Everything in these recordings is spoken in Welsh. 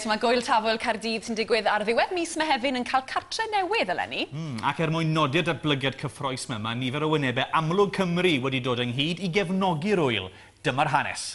Mae Gwyl Tafwyl Caerdydd sy'n digwydd ar ddiwedd mis Mehefin yn cael cartre newydd eleni. Mm, ac er mwyn nodi'r datblygiad cyffroes yma, mae nifer o wynebau amlwg Cymru wedi dod ynghyd i gefnogi'r ŵyl. Dyma'r hanes.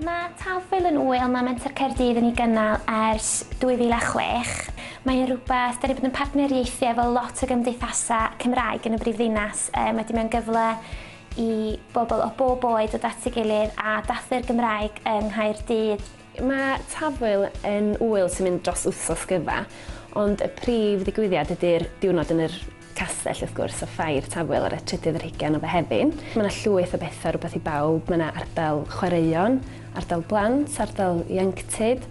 Mae Talfwyl yn ŵyl mae Menter Caerdydd yn ei gynnal ers 2006. Mae'n rhywbeth, dan ni'n bod yn partneriaethu efo lot o gymdeithasau Cymraeg yn y brifddinas. Um, mae di mewn gyfle i bobl o bob oed o ddat i gilydd a dathlu'r Gymraeg yng Nghaerdydd. Mae Tafwyl yn ŵyl sy'n mynd dros wythnos gyfa, ond y prif ddigwyddiad ydy'r diwrnod yn yr castell wrth gwrs, a Ffair Tafwyl ar y trydydd ar hugain o Fehefin. Mae 'na llwyth o betha, rwbeth i bawb, mae 'na ardal chwaraeon, ardal blant, ardal ieuenctid,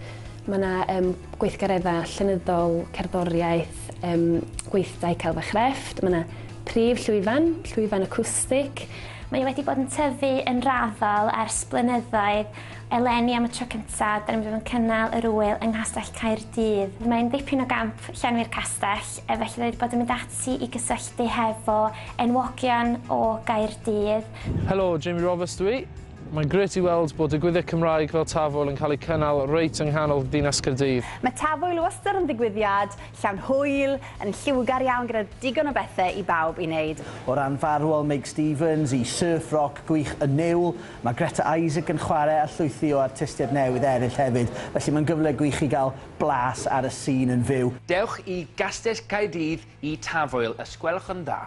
mae 'na yym gweithgaredda llenyddol, cerddoriaeth, yym gweithdai celf a chrefft, mae 'na prif llwyfan, llwyfan acwstic, Mae o wedi bod yn tyfu yn raddol ers blynyddoedd, Eleni am y tro cyntaf, da ni'n mynd i fod yn cynnal yr ŵyl yng Nghastell Caerdydd. Mae'n dipyn o gamp llenwi'r castell, e, felly da ni wedi bod yn mynd ati i gysylltu hefo enwogion o Gaerdydd. Helo, Jamie Roberts dw i. Mae'n grêt i weld bod digwyddiad Cymraeg fel Tafwyl yn cael ei cynnal reit yng nghanol ddinas Caerdydd. Mae Tafwyl wastad yn ddigwyddiad llawn hwyl, yn lliwgar iawn gyda digon o bethe i bawb i wneud. O ran farwol Meg Stevens, i surf roc gwych y Niwl, Mae Greta Isaac yn chwarae a llwythi o artistiaid newydd eraill hefyd, felly mae'n gyfle gwych i gael blas ar y sîn yn fyw. Dewch i Gastell Caerdydd i Tafwyl os gwelwch yn dda!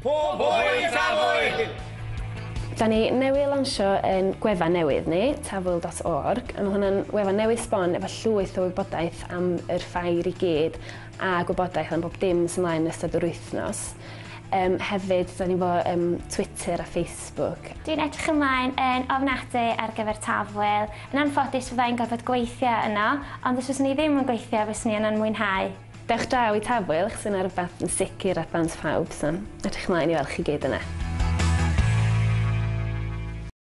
Pob hwyl i Tafwyl! Da ni newydd lansio ein gwefan newydd ni, tafwyl dot org, a mae hwnna'n wefan newydd sbon efo llwyth o wybodaeth am yr ffair i gyd a gwybodaeth am bob dim sy'n mlaen yn ystod yr wythnos. Yym hefyd da ni efo yym Twitter a Facebook. Facebook. Dwi'n edrych ymlaen yn ofnadwy ar gyfer Tafwyl. Yn anffodus fydda i'n gorfod gweithio yno, ond os fyswn i ddim yn gweithio fyswn i yno'n mwynhau. Dewch draw i Tafwyl, chos yna rhywbeth yn sicr at ddant phawb, so edrych ymlaen i weld chi gyd yna.